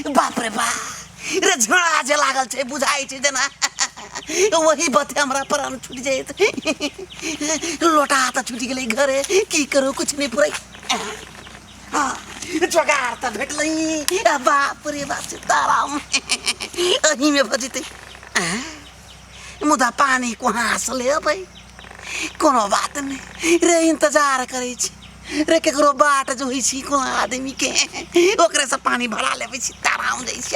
बाप रे बाप रे झोड़ा जे लागल छै बुझाइ छै जेना वही बाते हमरा प्राण छूट जाइत लोटा तऽ छूट गेलै घरे की करू कुछ नहि पुरै हाँ, जोगाड़ तऽ भेटलै आ बाप रे बाप सीताराम अहीमे भऽ जेतै आँय? मुदा पानी कहाँ से लेबै कोनो बात नहि रे इंतजार करै छी रे केकरो बाट जोहै छी कोनो आदमीके ओकरेसँ पानी भरा लेबै छी ताराम जाइ छी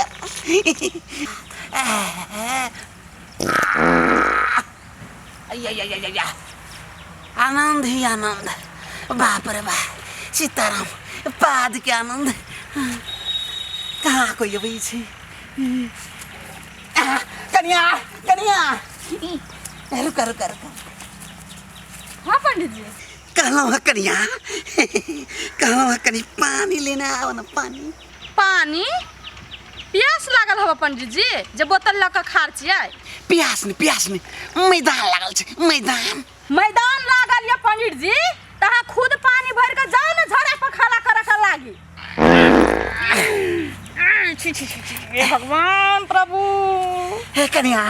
आनन्द ही आनन्द बाप रे बा सीताराम पादके आनन्द कहाँ कोही अबै छै आह, कनिया कनिया ए, रुका रुका रुका हाँ पंडित जी कहलौं है कनिया कहलौं है कनी पानी लेना आओ ना पानी पानी प्यास लागल हवा पंडित जी जे बोतल लऽ कऽ खार छियै प्यास ने प्यास ने मैदान लागल छै मैदान मैदान लागल ये पंडित जी तहा खुद पानी भर के जाओ ना झड़ा पर खाला करे के लागी छी छी छी छी, हे भगवान प्रभु हे कन्या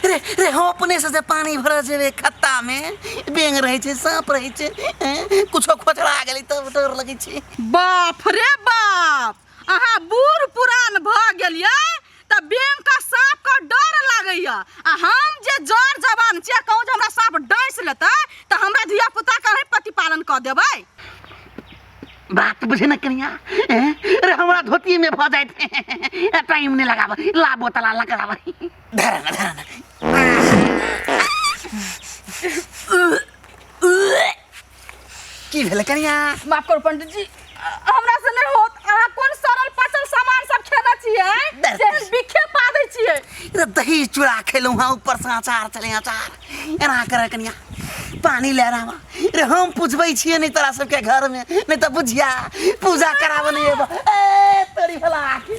रे रे हो अपने से जे पानी भरा जेबे खत्ता में बेंग रहे छे सांप रहे छे हैं, कुछो खोचड़ा गेलै तब डर लगै छे बाप रे बाप अहाँ बूढ़ पुरान भऽ गेलियै तऽ बेंग का साँप का डर लागैए आ हम जे जर जवान छी आ कहूँ जे हमरा साँप डैस लेतै तऽ हमरा धिया पुता के अहीं प्रतिपालन कऽ देबै बात बुझे ना कनिया हैं? अरे हमारा धोती में भऽ जाए थे टाइम नहीं लगाब ला बोतला ला कराब धरा ना धरा ना की भेलै कनिया माफ करू पंडित जी हमरा से नहि होत अहाँ कोन सरल पचल सामान सब खेने छियै दर्द। जेहन बिखे पा दै छियै रे दही चूड़ा खेलहुँ हँ ऊपर से अचार चले अचार एना करे कनिया पानी ले रहा रे हम पूछबै छियै नहि तोरा सबके घर में नहि तऽ बुझिया पूजा कराबऽ नहि एबऽ ए तोरी भला आखी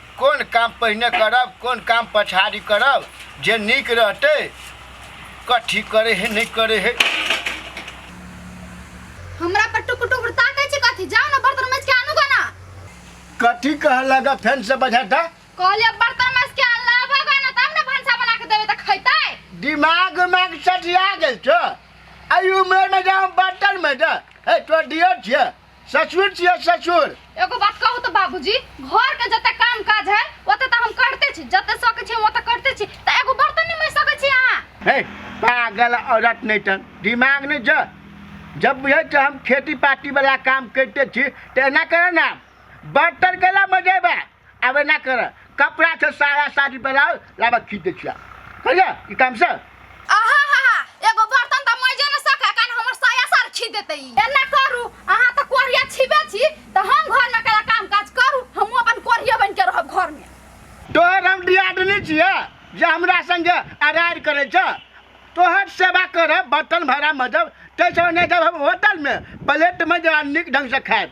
कोन काम पहिने करब कोन काम पछाड़ी करब जे नीक रहते कथी करे है नहीं करे है हमरा पर टुकुर टुकुर ताकै छी कथी जाउ न बर्तन मैज के आनु गना कथी कह लगा फैन से बजा था कहले बर्तन मैज के आन लाबा गना तब न भंसा बना के देबे त खैतै दिमाग में सटिया गेल छ आई उम्र में जाओ बर्तन में जा ए तो दियो छ ससुर छियै ससुर एगो बात कहू तऽ बाबूजी घर के जते काम काज है ओते तऽ हम करते छी जते सकै छी हम ओते करते छी तऽ एगो बर्तन नहीं माज सकै छी अहाँ हे पागल औरत नहीं टन दिमाग नहीं छ जब बुझे छ हम खेती पाती वाला काम करते छी तो एना करे ना बर्तन केला मजेबा आबे ना कर कपड़ा से साया साड़ी ब्लाउज लाबा खींच दे छिया कहिया ई काम से आहा हा हा एगो बर्तन त मजे न सके कान हमर साया सार छी देते ई एना करू अहाँ त कोरिया छिबे छी त हम घर में कला काम काज करू हम अपन कोरिया बन के रहब घर में तोहर हम दियादनी छिया जे हमरा संगे अरार करे छ तोहर सेवा कर बर्तन भरा मजब तै से नहीं जब हम होटल में प्लेट में जरा निक ढंग से खाएब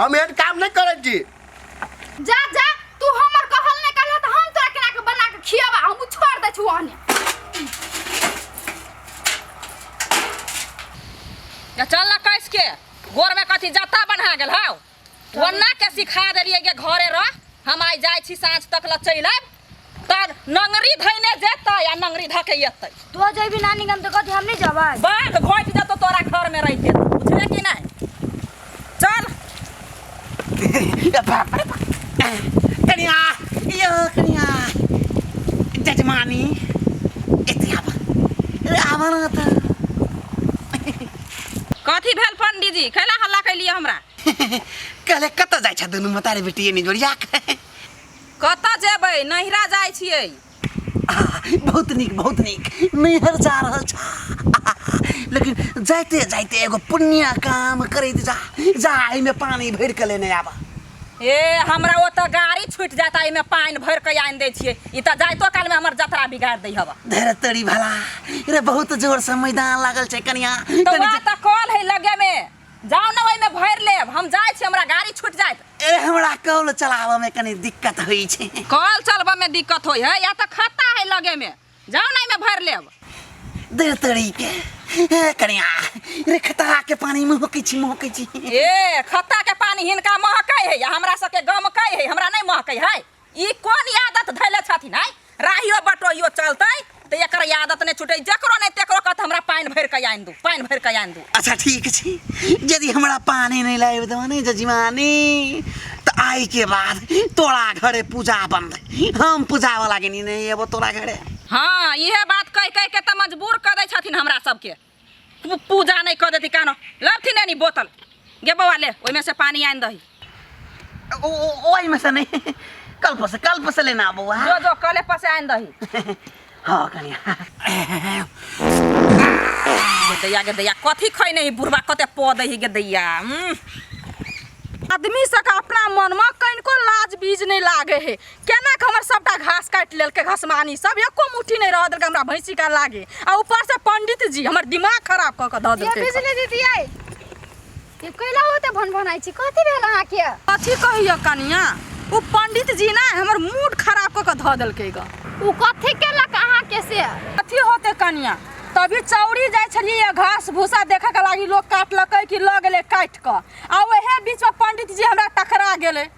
हम एहन काम नहीं करब जी जा जा तू हमर कहल ने कहल त हम तोरा केना के बना के खियाबा हम छोड़ दे छु ओहने या चल ना कैस के गोर में कथी जत्ता बना गेल हौ वन्ना के सिखा देलिए के घरे रह हम आई जाय छी साँझ तक ल चलि आयब तार नंगरी धैने जेतै आ नंगरी धके एतै तू जइबी नानी गाम त कथी हम नहीं जबै बाघ घोट देतो तोरा घर में रह के बुझले कि नहीं चल बाप रे बाप। कनिया यो कनिया जजमानी एते आब आब न त कथी भेल पंडित जी कैला हल्ला कैलिए हमरा कहले कत जाइ छ दुनू मतारे बेटी एनी जोड़िया के कतऽ जेबै नैहरा जाइ छियै बहुत नीक बहुत नीक नैहर जा रहल छ लेकिन जाइते जाइते एगो पुण्य काम करैत जा जा एहिमे पानि भरि कऽ लेने आबऽ ए हमरा ओतऽ गाड़ी छूटि जाता एहिमे पानि भरि कऽ आनि दै छियै ई तऽ जाइतो कालमे हमर जतरा बिगाड़ि दै हवा धैर तड़ी भला रे बहुत जोर से मैदान लागल छै कनिया तऽ वहाँ तऽ कल है लगेमे जाओ ना ओहिमे भर लेब हम जाए छी हमरा गाड़ी छूट जाए ए हमरा कॉल चलाबऽ में कनी दिक्कत होई छै कॉल चलबऽ में दिक्कत होई है या तो खाता है लगे में जाओ ना में भर लेब दे तड़ी के ए कनिया रे खतरा के पानी में होके छी मोके छी ए खत्ता के पानी हिनका महकै है या हमरा सबके गमकै है हमरा नहीं महकै है ई कोन आदत धैले छथिन आइ राहियो बटोहियो चलतै तऽ एकर आदत नहि छुटै जकरो नहि तकरो कहत हमरा पानि भरि कऽ आनि दू पानि भरि कऽ आनि दू अच्छा ठीक छै यदि हमरा पानी नहीं लाइब दो ने जजमानी तो आई के बाद तोरा घरे पूजा बंद हम पूजा वाला के नहीं एबो तोरा घरे हाँ इहे बात कहि कहि के तऽ मजबूर कऽ दै छथिन हमरा सबके तू पूजा नहीं कर देती कानो लबथी नहीं बोतल गे बउआ ले ओहिमे से पानी आनि दही ओ- ओ- ओहिमे से नै कल्प से कल्प से लेना अब बौआ जो जो कले पसे आनि दही हँ कनिया गेदैया गेदैया कथी खै नहीं बुढ़वा कते पऽ दही गेदैया उम्म। आदमी सबके अपना मनमे कनिको लाज बीज नहि लागे हे केना के हमर सबटा घास काटि लेलकै घसमानी सब एको मुट्ठी नहि रह देलकै हमरा भैंसी का लागे आ ऊपर से पंडित जी हमर दिमाग खराब क के द ये देलकै बिजली दीदी आई ये कैला होते भन भन आई छी कथी भेल अहाँ के कथी कहियो कनिया ओ पंडित जी ना हमर मूड खराब क के ध देलकै ग उ कथी केलक अहाँ के से कथी होते कनिया तभी चौरी जाइ छलियै घास भूसा देखऽ के लागी लोग काटलकै कि लऽ गेलै काटि कऽ आ ओहे बीच में पंडित जी हमरा टकरा गेलै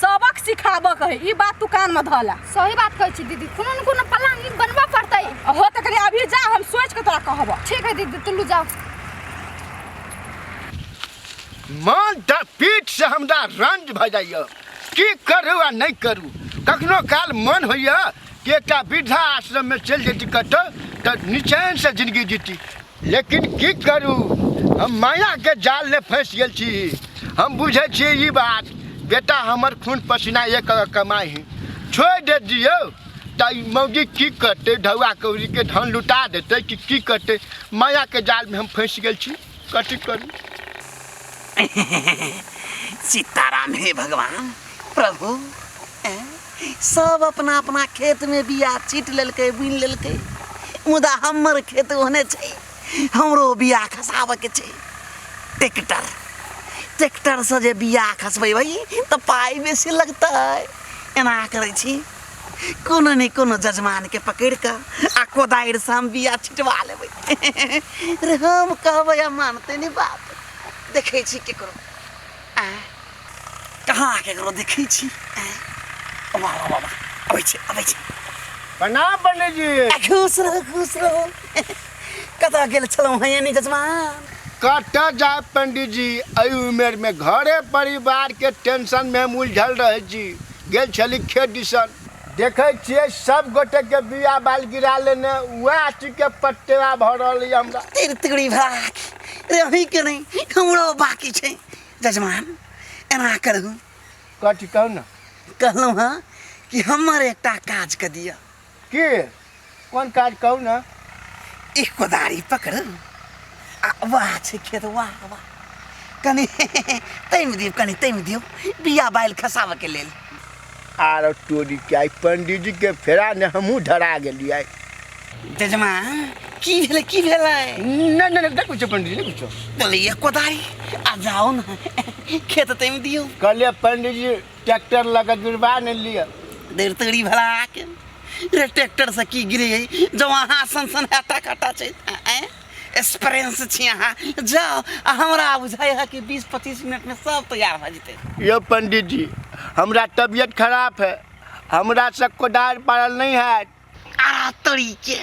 सबक सिखाबऽ कहे ई बात तू कान में धला सही बात कहै छी दीदी कोनो ने कोनो प्लान ई बनबऽ पड़तै हो तऽ कनी अभी जा हम सोच के तोरा कहबऽ ठीक है दीदी तुलू जाओ मन तऽ पीठ से हमरा रंज भऽ जाइए की करू आ नहि करू कखनो काल मन होइए कि एकटा वृद्धा आश्रममे चलि जैती कतहु तऽ निचैनसँ जिनगी जीती लेकिन की करू हम मायाके जालमे फँसि गेल छी हम बुझै छी ई बात बेटा हमर खून पसीना एक कमाइ है छोड़ि दे दियौ तऽ ई मौगी की करतै ढौआ कौड़ीके धन लुटा देतै कि की करतै मायाके जालमे हम फँसि गेल छी कथी करू सीताराम हे भगवान प्रभु सब अपना अपना खेत में बिया छीट लेलकै बुन लेलकै मुदा हमर खेत ओहने छै हमरो बिया खसाबऽ के छै ट्रैक्टर ट्रैक्टर से जे बिया खसबै भाई तऽ पाइ बेसी लगतै एना करै छी कोनो ने कोनो जजमान के पकड़ कऽ आ कोदारि से हम बिया छिटवा लेबै रे हम कहबै आ मानतै ने बात देखै छी केकरो कहाँ आके एकरो देखै छी बाबा बाबा अबै छै अबै छै प्रणाम पंडित जी खुश रहू खुश रहू कतऽ गेल छलहुँ हैं यानी जजमान कत जाए पंडित जी एहि उमेर में घरे परिवार के टेंशन में हम उलझल रहे छी गेल छली खेत दिसन देखै छियै सब गोटे के बिया बाल गिरा लेने वएह चीज के पट्टेवा भऽ रहल अछि हमरा तिरतिरी भराक रे अहीं के नहीं हमरो बाकी छै जजमान एना करू कथी कहू ने कहलहुँ हँ कि हमर एकटा काज कऽ दिअ की कोन काज कहू ने ई कोदारी पकड़ू आ वाह छै खेत वाह वाह कनि तामि दियौ कनि तामि दियौ बिया बालि खसाबऽके लेल आर टोरी के आई पंडित जी के फेरा ने हमहूँ धरा गेलियै जजमा की भेलै की भेलै नहि नहि नहि नहि कुछो पंडित जी नहि कुछो बोलैया कोदारी आ जाओ ने खेत तामि दियौ कहलियै पंडित जी ट्रैक्टर लऽ कऽ जुड़बा ने लिअ देर तोरी भला आके रे ट्रैक्टर से की गिरे जब अहाँ सन सन हटा खटा छै एक्सपीरियंस छी अहाँ जाओ आ हमरा बुझाइ है कि बीस पच्चीस मिनट में सब तैयार भऽ जेतै यो पंडित जी हमरा तबियत खराब है हमरा से कोदार पारल नहीं है अरे तरीके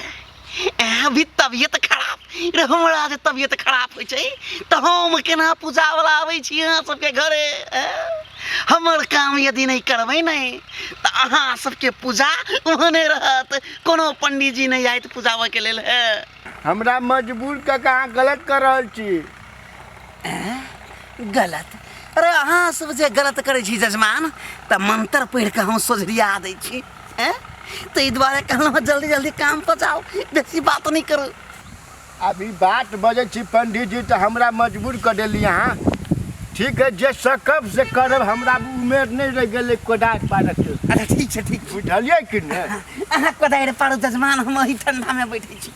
एह भी तबियत खराब रे हमरा जे तबियत खराब होइ छै तऽ हम केना पूजावला आबै छी अहाँ सबके घरे एँ? हमर काम यदि नहि करबै नहि तऽ अहाँ सबके पूजा ओहने रहत कोनो पंडीजी नहि आयत पूजाबऽके लेल हे हमरा मजबूर कऽ के अहाँ गलत कर रहल छी एँ? गलत अरे अहाँ सब जे गलत करै छी जजमान तऽ मंत्र पढ़ि कऽ हम सोझरिया दै छी एँ? ताहि दुआरे कहलहुँ जल्दी जल्दी काम पर जाओ बेसी बात नहि करू अभी बात बजै छी पंडित जी तऽ हमरा मजबूर कऽ देली अहाँ ठीक है जे सकब से करब हमरा उमेर नहि रहि गेलै कोदारि पारक के अच्छा ठीक छै ठीक छै बुझलियै कि नहि अहाँ कोदारि पाड़ू जजमान हम ओही ठंडामे बैठे छी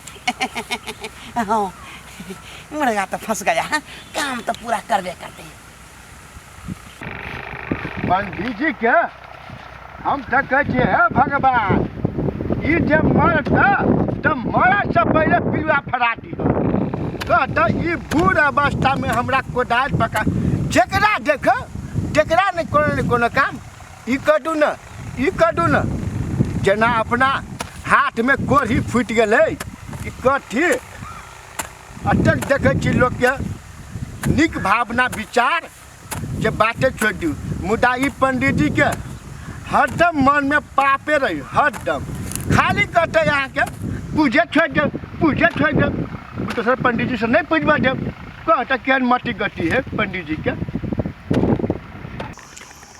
हँ मुर्गा तऽ फंस गया है काम तऽ पूरा करबे करते पंडित जी के हम तऽ कहै छियै हे भगवान ई जे मरत तऽ मरतसँ पहिले पिलुआ फरा दिह कह तऽ ई बूढ़ अवस्थामे हमरा कोदारि पका जकरा देख जकरा नहि कोनो ने कोनो काम ई कटू ने ई कटू ने जेना अपना हाथमे कोढ़ी फूटि गेलै कि कथी अटक देखै छी लोकके नीक भावना विचार जे बाते छोड़ि दियौ मुदा ई पंडीजीके हरदम मनमे पापे रही हरदम खाली कहतै अहाँके पूजे छोड़ि देब पूजे छोड़ि देब दोसर तो पंडीजीसँ नहि पूजबऽ देब कहतै केहन मट्टी गट्टी है पंडीजीके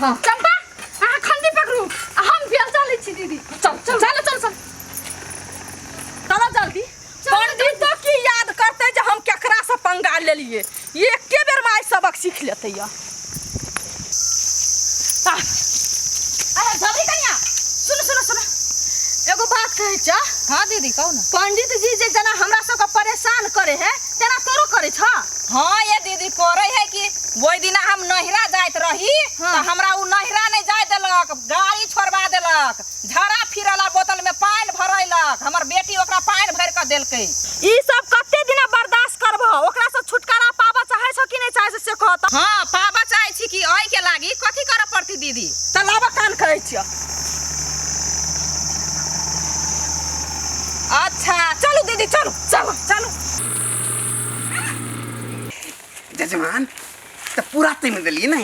हाँ चंपा अहाँ खंडी पकड़ू आ हम बेल चलै छी दीदी चल चल चल चल चल चलो जल्दी पंडित तो की याद करते जे हम केकरा से पंगा लेलिए एके बेर माय सबक सीख लेते या अरे जल्दी कनिया सुन सुन सुन एगो बात कहै छ हाँ दीदी कहू ना पंडित जी जे जना हमरा सबके परेशान करे है तेना तोरो करे छ हाँ ये दीदी करे है कि वही दिना हम नहिरा जात रही हाँ। तो हमरा उ नहिरा नहीं जाए देलक गाड़ी छोड़वा देलक झरा फिरला बोतल में पानी भरैलक हमर बेटी ओकरा पानी भर के देलकै ई सब कते दिन बर्दाश्त करब ओकरा से छुटकारा पाबऽ चाहे छ कि नहीं चाहे छ से कह त हाँ पाबा चाहे छी कि ओहि के लागी कथी करऽ पड़ती दीदी चल आबऽ कान कहै छिय अच्छा चलू दीदी चलू चलो चलो जजमान तो पूरा टाइम दिलिए ना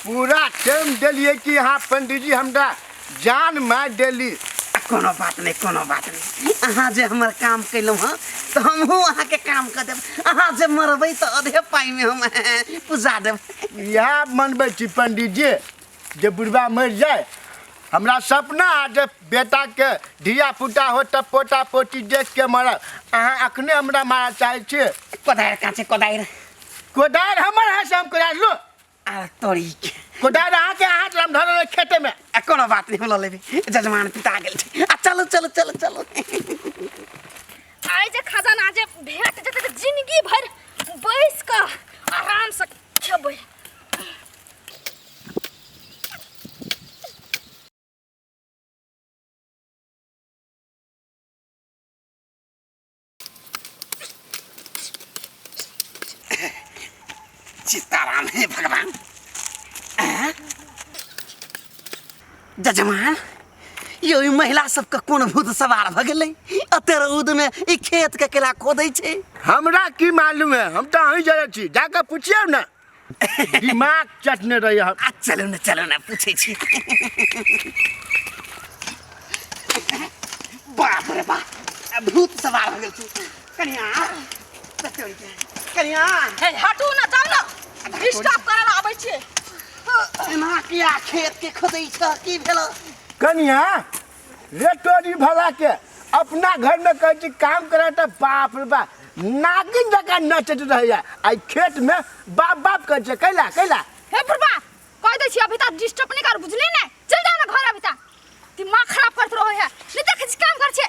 पूरा टाइम दिलिए कि यहाँ पंडित जी हमरा जान मार दिली कोनो बात नहीं कोनो बात नहीं अहाँ जे हमर काम कैलहुँ हँ तो हमहूँ अहाँके काम कर देब अहाँ जे मरबै तो अधे पाइमे हम पूजा देब इएह मनबै छी पंडित जी जे बुढ़बा मरि जाए हमरा सपना है जे बेटा के धिया पुता हो तब पोता पोती देख के मरल अहाँ अखने हमरा मारा चाहे छे कोदार कहाँ छै कोदार कोदार हमर है से हम कोदार लो आ तोरी के कोदार अहाँ के हाथ हम धरल है खेते में आ कोनो बात नहीं बोलो लेबी जजमान पिता गेल छै आ चलो चलो चलो चलो आइ जे खजाना जे भेट जेतै तऽ जिनगी भरि बैस कऽ आरामसँ खेबै सीताराम हे भगवान जजमान यौ ई महिला सबके कोन भूत सवार भऽ गेलै एते रौदमे ई खेतके केला खोदै छै हमरा की मालूम है हम तो अहीं जरे छी जाके पूछिए ना दिमाग चटने रही हम आ चलू ने चलू ने पूछै छी बाप रे बाप भूत सवार भऽ गेल छै कनिया बतौरी के कनिया हे हटू ना जाऊ ना डिस्टर्ब करे ला आबै छियै एना किया खेत के खोदै छ की भेल कनिया रे तोरी भला के अपना घर में कहै छी काम करे त बाप रे बा नागिन जकाँ नचैत रहैया आइ खेत में बाप बाप कहै छै कैला कैला हे बुढ़बा कह दै छी अभी तक डिस्टर्ब नहीं कर बुझली ने चल जाओ ना घर अभी तक दिमाग खराब करत रहो है नहीं देखे छी काम कर छे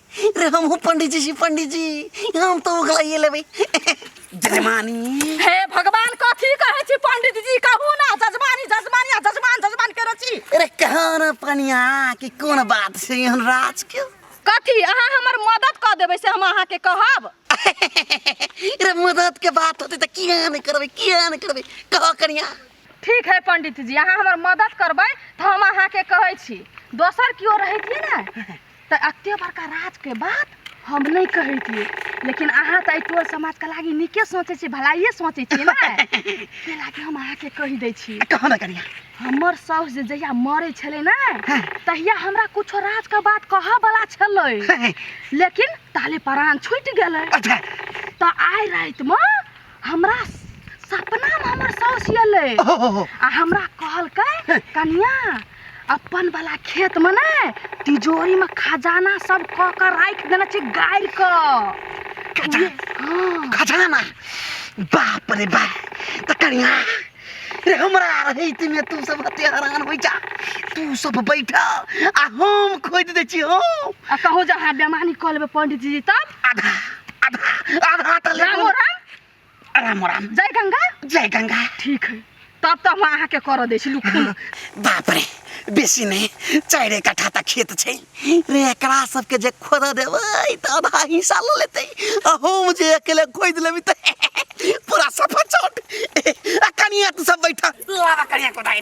रे हम हूँ पंडित जी छी पंडित जी हम तो उगलाइए लेबै जजमानी हे भगवान कथी कहै छी पंडित जी कहू ना जजमानी जजमानी आ जजमान जजमान करै छी अरे कहाँ न पनिया कि कोन बात छै एहन राज के कथी अहाँ हमर मदद कऽ देबै से हम अहाँके कहब अरे मदद के बात होतै तऽ किया नहि करबै किया नहि करबै कह कनिया ठीक है पंडित जी अहाँ हमर मदद करबै तऽ हम अहाँके कहै छी दोसर केओ रहैतियै ने तऽ एते बड़का राजके बात हम नहि कहैतियै लेकिन अहाँ तऽ एहि टोल समाजके लागि नीके सोचै छियै भलाइए सोचै छियै ने ताहि लागि हम अहाँके कहि दै छी कहाँ ने करिया हमर साउस जे जहिया मरै छलै ने हँ। तहिया हमरा कुछो राजके बात कहऽ बला छलै लेकिन ताले प्राण छूटि गेलै अच्छा तऽ आइ रातिमे हमरा सपना में हमर सास एले आ हमरा कहलकै कनिया अपन वाला खेत में ने तिजोरी में खजाना सब क के राख देना छै गाड़ के खजाना? हाँ खजाना बाप रे बाप त कनिया रे हमरा रहैत में तू सब हते हरान होइ जा तू सब बैठ आ हम खोद दै छी हम आ कहूँ जहाँ बेमानी कऽ लेबै पंडित जी तब आधा आधा आधा हाथ ले राम और राम राम राम जय गंगा जय गंगा ठीक है तब तो हम अहाँ के कर दै छी लुखू बाप रे बेसी नै चाइरे कठा त खेत छै रे एकरा सबके जे खोद देबै त आधा हिस्सा ल लेतै आ हम जे अकेले खोद लेबै त पूरा सफा चौट आ कनिया तू सब बैठा लावा कनिया को दाइ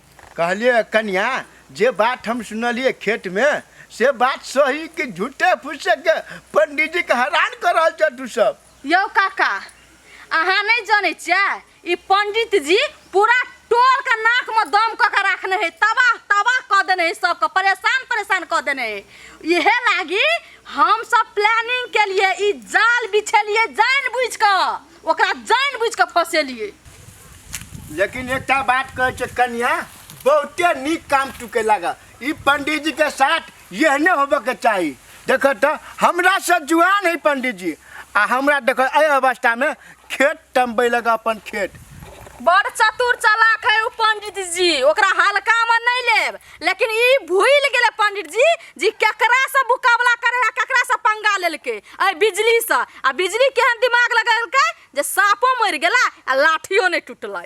कहलियै कनिया जे बात हम सुनलियै खेत में से बात सही कि झूठे फूसे के पंडित जी के हैरान कर रहल छ तू सब यो काका अहाँ नहीं जाने छियै ई पंडित जी पूरा टोल के नाक में दम क के रखने है तबाह तबाह क देने है सबके परेशान परेशान क देने है इहे लागी हम सब प्लानिंग के लिए ई जाल बिछेलिए जान बुझ के ओकरा जान बुझ के फसेलिए लेकिन एकटा बात कहै छै कन्या बहुते नीक काम तू के लगा ई पंडित जी के साथ यहने होबे के चाही देख तो हमरा से जुआन है पंडित जी आ हमरा देख एहि अवस्था में खेत टम्बे लगा अपन खेत बड़ चतुर चालाक है उ पंडित जी ओकरा हल्का में नहीं लेब लेकिन ई भूल गेले पंडित जी जी केकरा से मुकाबला करे है केकरा से पंगा लेलके ए बिजली से आ बिजली केहन दिमाग लगेलकै जे साँपो मरि गेला आ लाठियो नहि टूटलै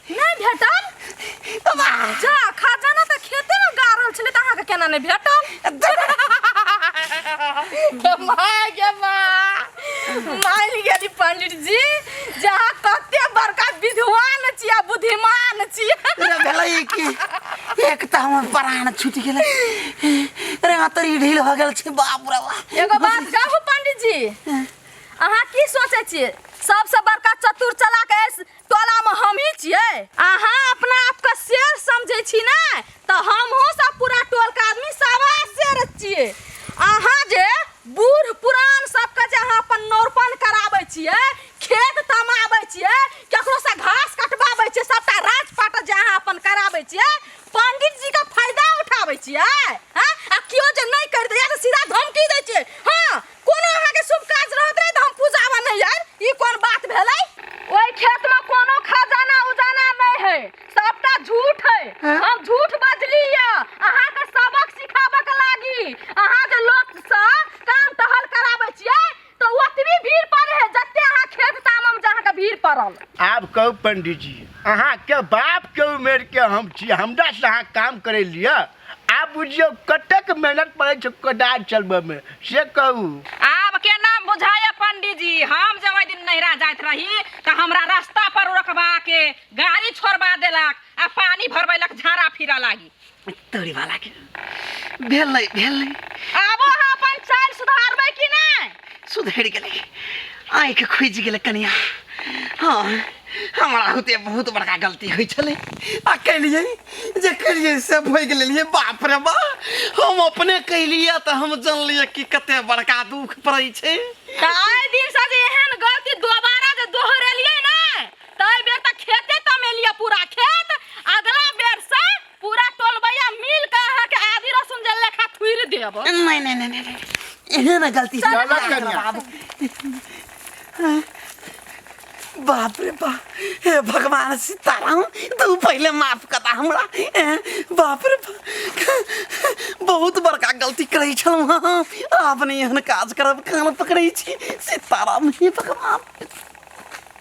नहीं भेटल तो बा जा खजाना त खेते में गारल छले त अहाँ के केना नहीं भेटल के माय के माय मान गेली पंडित जी जहाँ कते बड़का विद्वान छिया बुद्धिमान छिया रे भेलै कि एक त हमर प्राण छूटि गेलै रे अतरी ढील हो गेल छै बाप रे बाप एगो बात कहू पंडित जी अहाँ की सोचे छिए सबसे बड़का चतुर चला के ऐस- टोलामे हमही छियै अहाँ अपना आपके शेर समझै छी ने तऽ हमहूँ सब पूरा टोलके आदमी सवा शेर छियै अहाँ जे बूढ़ पुरान सबके जे अहाँ अपन नौरपन कराबै छियै खेत तमाबै छियै ककरोसँ घास कटबाबै छियै सबटा राजपाट जे अहाँ अपन कराबै छियै पंडित जीके फायदा उठाबै छियै हँ आ केओ जे नहि करि दैए तऽ सीधा धमकी दै छियै हँ कोनो अहाँ के शुभ काज रहत रहे त हम पूजावा नहीं आइल ई कोन बात भेलै ओई खेत में कोनो खजाना उजाना नहीं है सबटा झूठ है हम झूठ बजली या अहाँ के सबक सिखाबे के लागी अहाँ जे लोक से काम टहल कराबै छियै त ओतबी भीड़ पड़े है जते अहाँ खेत तामम जे अहाँ के भीड़ पड़ल आब कहू पंडित जी अहाँ के बाप के उम्र के हम छी हमरा से अहाँ काम करे लिया आब बुझियौ कतेक मेहनत पड़ै छै कोदारि चलबऽमे से कहू आब केना बुझाइए पंडीजी हम जे ओहि दिन नैहरा जाइत रही तऽ हमरा रास्ता पर रोकबा के गाड़ी छोड़बा देलक आ पानी भरबैलक झाड़ा फिरऽ लागी तोरी वाला के भेलै भेलै आबो अहाँ अपन चालि सुधारबै कि नहि सुधरि गेलै आँखि खुजि गेलै कनिया हँ हमरा होते बहुत बड़का गलती होइ छलै आ केलियै जे केलियै से भोगि लेलियै बाप रे बा हम अपने केलियै तऽ हम जानलियै कि कते बड़का दुख पड़ै छै तऽ एहि दिनसँ जे एहन गलती दोबारा जे दोहरेलियै ने ताहि बेर तऽ खेते तमेलियै पूरा खेत अगला बेरसँ पूरा टोलबैया मिल के अहाँ के आदि रसुन जे लेखा थुइर देब नहीं नहीं नहीं नहीं नहीं। इन्हें ना गलती से चलो कन्या। बाबू। बाप रे बाप हे भगवान सीताराम तू पहले माफ करा हमरा ए, बाप रे बाप बहुत बड़का गलती करै छलहुँ हँ आब नहि एहन काज करब कान पकड़ै छी सीताराम हे भगवान